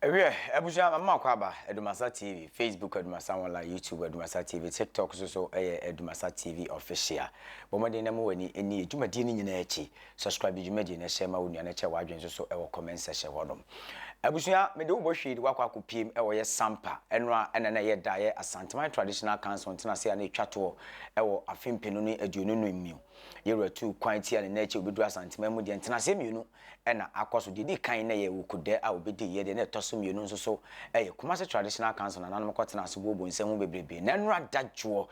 Wiɛ, abusua, mama mo akwaaba, Adumasa TV, Facebook Adumasa Online, YouTube Adumasa TV, TikTok nso so yɛ Adumasa TV Official. Bɔ mmɔden na mo w'ani nni yɛ dwumadie no nyinaa akyi. Subscribe dwumadie no, hyɛ ma wo nua na kyɛ w'adwene nso so wɔ comment section hɔnom. Abusua, mede wo bɔ hwii de woakɔ akɔpiem wɔ yɛ sampa, ɛno a ɛna na ɛyɛ da yɛ Asanteman Traditional Council ntenase a na ɛtwa toɔ wɔ afe mpenu ne aduonu no mu. Yɛwura tuu kwan tia ne nna akyi a obɛduru Asanteman mu deɛ ntenaseɛ mmienu na akɔ so. Deɛ ɛdi kan na ɛyɛ Wukude a obi diiɛ, deɛ na ɛtɔ so mmienu nso so yɛ Kumasi Traditional Council, nananom kɔtenaa ase buo bonsam mu bebrebe. Na nnora dadwoɔ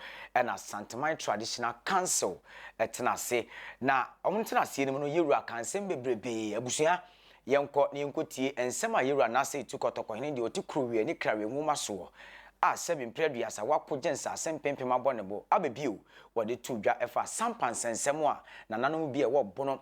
na Santeman Traditional Council tena ase. Na wɔn tena aseɛ no mu no, Yewura kaa nsɛm bebrebe. Abusua, yɛnkɔ na yɛnkɔ tie nsɛm a Yewura Nasser Itu Kɔtɔkɔhene deɛ ɔte Kurowie ne Krawie nwoma soɔ a sɛbe mprɛ aduasa wako gye nsase mpempem abɔ ne bo aba bio, wɔde too dwa ɛfa Asampa nsɛnsɛm a nananom bi a ɛwɔ Bono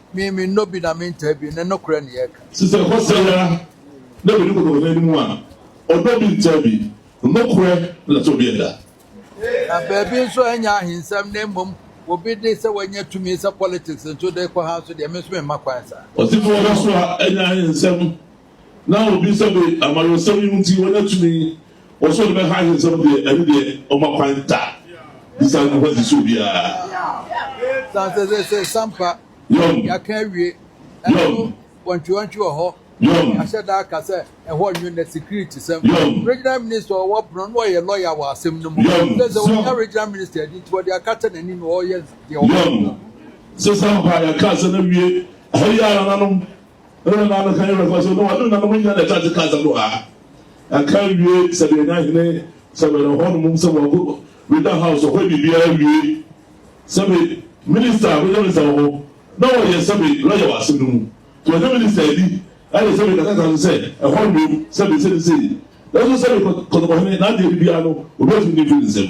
Me, mennɔ bi na mentaa bi, ne nokorɛ ne yɛreka. Te sɛ ɛhɔ sɛe ara na bɛdi kɔtɔkɔtɔ anim a, ɔdɔ bi ntaa bi, nokorɛ na tɔ bi ɛda. Na baabi nso ɛnyɛ ahensɛm na mmom obi de sɛ wanya tumi sɛ politics nso de rekɔ ha nso deɛ, me nso memma kwan saa. Ɔtefoɔ da so a ɛnyɛ ahensɛm. Na obi nsa be amanyɔsɛm yi ho nti wanya tumi, wɔ so ɔde bɛ ha ahensɛm deɛ, ɛno deɛ ɔma kwan da de saa nnipa si so biara. Yom. Yom. Yom. Yom. Sesampa, yɛkaa sɛ na wie. Ɛhɔ yi ara nanom. Ɛna nna no kan bɛfa so na ɔne nnanom nyinaa na ɛka te kasa no a ɛka wie sɛdeɛ na hene sɛ wɛrɛ hɔ nom sɛ wɔko weda house ɔhɔ biribiara wie sɛbe minister wɛrɛ ne sɛ ɔhɔ na wɔyɛ sɛbe lɔyɛ wɔ asɛm no mu to ɔne minister adi ɛne sɛbe kasa kasa sɛ ɛhɔ nom sɛbe sɛde sɛ nanso sɛbe kɔtɔkɔ hene na adeɛ biribiara no obɛtumi ne mfiri nsɛm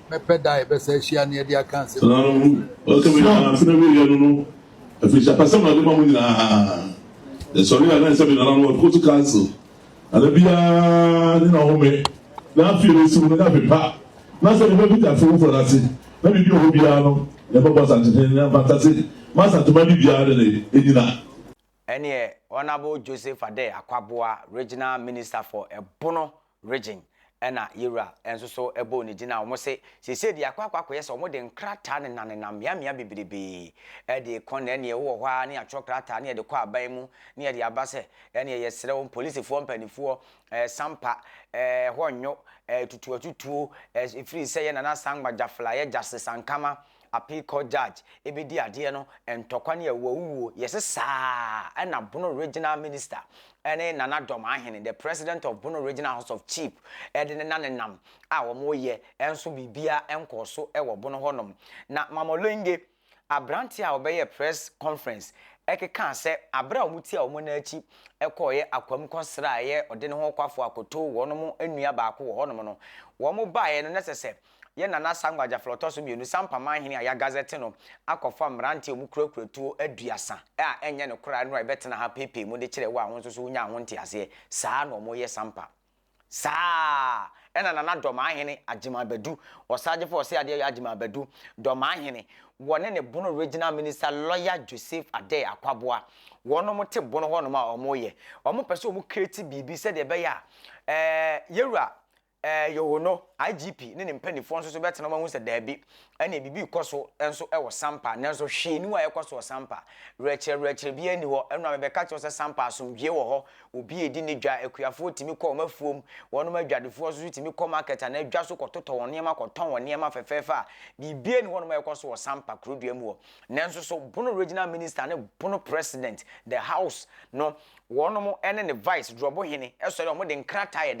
Mɛpɛ da a yɛbɛsan ahyia na yɛde aka asɛm no nyinaa bio. Ɔsɛ me Nana Afena wiɛ yɛ no no afiri hyɛ apɛsɛm na ɔde ma mo nyinaa yɛ sɔre a na ɛsɛ me Nana no ɔkɔ to council Nana biara ne na home na afie no ɔsi mu no na me pa na sɛ me ba bi da afie foforɔ no ase na biribi ɔhɔ biara no yɛ bɛbɔ Asantehene ne Mfantase ma Asantema de biara ne ne nyina Ɛneɛ Honourable Joseph Adeh Akwaboa Regional Minister for Ɛbono Region ɛna yɛwura nso so bɔɔ ne din a wɔn se seisei deɛ akɔ akɔ akɔyɛ sɛ wɔn de nkrataa nena nenam mmea mmea bebrebee ɛde rekɔ na ɛneɛ wowɔ hɔ ara ne yɛatwerɛ krataa ne yɛde kɔ aban mu ne yɛde aba sɛ ɛneɛ yɛsrɛ wɔn polisifoɔ mpanifoɔ ɛɛ sampa ɛɛ hɔ nnwo ɛɛ tutuatutuo ɛɛ ɛfiri sɛ yɛ nana sangba gyafla yɛ gyase sankama Appeal Court Judge bedi adeɛ no ntɔkwa ne awuawuo yɛse saa na Bono Regional Minister ne Nana Dɔm Ahene the President of Bono Regional House of Chief de ne nanenam a wɔyɛ nso biribiara nkɔɔ so wɔ Bono hɔ nom na Mama Olenge abranteɛ a ɔbɛyɛɛ press conference ɛkekaa sɛ aberɛ a wɔn tia wɔn nan akyi kɔɔeɛ Akwam kɔsraaeɛ ɔde ne ho kwafoɔ akɔtoo wɔnom nnua baako wɔ hɔnom no wɔn baeɛ no na ɛsɛ sɛ yɛ Nana Sankwa Gyafla Ɔtɔ So Mmienu Sampa Man Hene a yɛagazɛte no akɔfa mmerante a wɔkurakura tuo aduasa a ɛnyɛ ne koraa no a ɛbɛtena ha pɛɛpɛɛ mu de kyerɛ wo a wo nso so wonyaa ho nteaseɛ. Saa na wɔyɛ Sampa. Saa na Nana Dɔmaa Hene Agyeman Badu, Ɔsaagyefo Ɔseadeɛyɔ Agyeman Badu, Dɔmaa Hene, wɔne ne Bono Regional Minister Lawyer Joseph Adeh Akwaboah, wɔnom te Bono hɔnom a wɔyɛ. Wɔpɛ sɛ wɔcreate biribi sɛdeɛ ɛbɛyɛ a ɛɛ Yɛwura Ɛɛ, yoh no, IGP ne ne mpanimfoɔ nso so bɛtena mu ahu sɛ daabi, ɛnneɛ biribi rekɔ so nso wɔ Sampa, nanso hwee nni hɔ a ɛrekɔ so wɔ Sampa. Werɛkyerɛwerɛkyerɛ biara nni hɔ, ɛno na mebɛka kyerɛ wo sɛ Sampa asomdwoeɛ wɔ hɔ, obiara redi ne dwa, akuafoɔ tumi kɔ wɔn afuom, wɔnom adwadefoɔ nso so tumi kɔ market anaa dwa so kɔtotɔ wɔn nneɛma kɔtɔn wɔn nneɛma fɛfɛɛfɛ a biribiara nni hɔnom a ɛrekɔ so wɔ Sampa kurodua mu hɔ. Nanso so Bono Regional Minister ne Bono President, the House, no Wɔnom ne ne vice drɔbo hene sɔre a wɔde nkrataa yɛ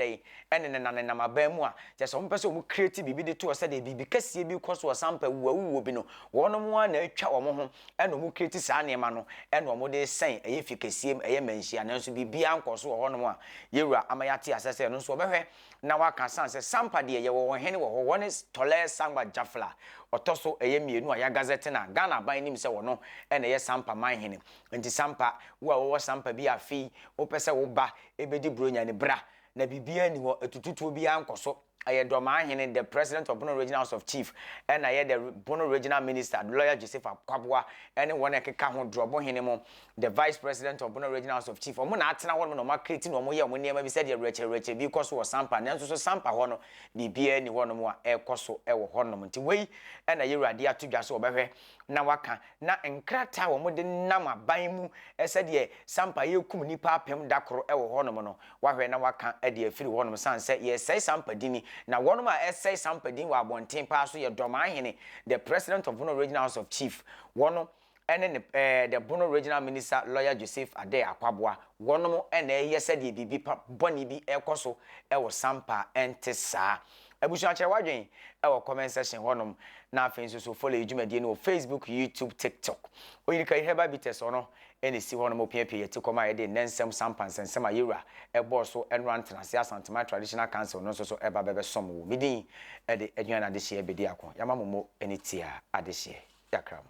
dɛn ne no nanenam aban mu a kyerɛ sɛ wɔpɛ sɛ wɔn create biribi de toɔ sɛdeɛ biribi kɛseɛ bi rekɔ so wɔ sampa wuo a wuwuo bi no wɔnom ara na atwa wɔn ho na wɔn create saa nneɛma no na wɔn de sɛn ɛyɛ fie kɛseɛ mu ɛyɛ manhyia nanso biribiara nkɔ so wɔ hɔnom a yɛwura ama yɛate asɛ sɛ ɛno nso wɔbɛhwɛ na wɔaka sane sɛ sampa deɛ yɛwɔ wɔn hene wɔ hɔ wɔne Tɔlɛɛ Sangba Jafla ɔtɔ so ɛyɛ mmienu a yɛagazɛte no a Ghana aban nim sɛ wɔno na ɛyɛ sampa man hene Enti Sampa, wo a wowɔ Sampa bi a afei wopɛ sɛ wo ba bɛdi Buronya no, bra. Na biribiara nni hɔ, atututuo biara nkɔ so. Ɛyɛ Dormaa Hene, the President of Bono Regional House of Chief, ɛna ɛyɛ the Bono Regional Minister, Lawyer Joseph Akwaboa, ɛne wɔn a ɛkeka ho, Drɔbo Hene mo, the Vice President of Bono Regional House of Chief. Wɔn na atena hɔnom na wɔakreti na wɔyɛ wɔn nneɛma bi sɛdeɛ werɛkyerɛwerɛkyerɛ bi rekɔ so wɔ Sampa, nanso so Sampa hɔ no, biribiara nni hɔnom a ɛrekɔ so wɔ hɔnom. Enti wei na Yɛwura de ato dwa sɛ wɔbɛhwɛ. na wɔaka na nkrataa a wɔde nam aban mu sɛdeɛ sampa yɛrekum nnipa apem da koro wɔ hɔnom no wɔahwɛ na wɔaka de afiri hɔnom sane sɛ yɛresɛe sampa dini na wɔnom a ɛsɛe sampa din wɔ abɔnten paa so yɛ Dɔmahene the president of Bono regional house of chief wɔno ɛne ne eh, the Bono regional minister lawyer Joseph Adeh Akwaboa wɔnom ɛna ɛyɛ sɛdeɛ biribi pa bɔne bi ɛkɔ so ɛwɔ sampa ɛnte saa Abusua kyerɛ w'adwen wɔ comment section hɔ nom na afei nso so follow yɛ dwumadie no wɔ Facebook, YouTube, TikTok. Oyirikayi Herbal Bitters ɔno na esi hɔ nom opiapia yɛ tikɔm a yɛde nnɛ nsɛm sampa nsɛnsɛm a yɛwura ɛbɔɔ so ɛnora ntenase Asantema Traditional Council no nso so ɛba bɛbɛsom wo. Me din ɛde Aduane Adehyeɛ Bediako. Yama mo mo ani tia adehyeɛ. Yakra mo.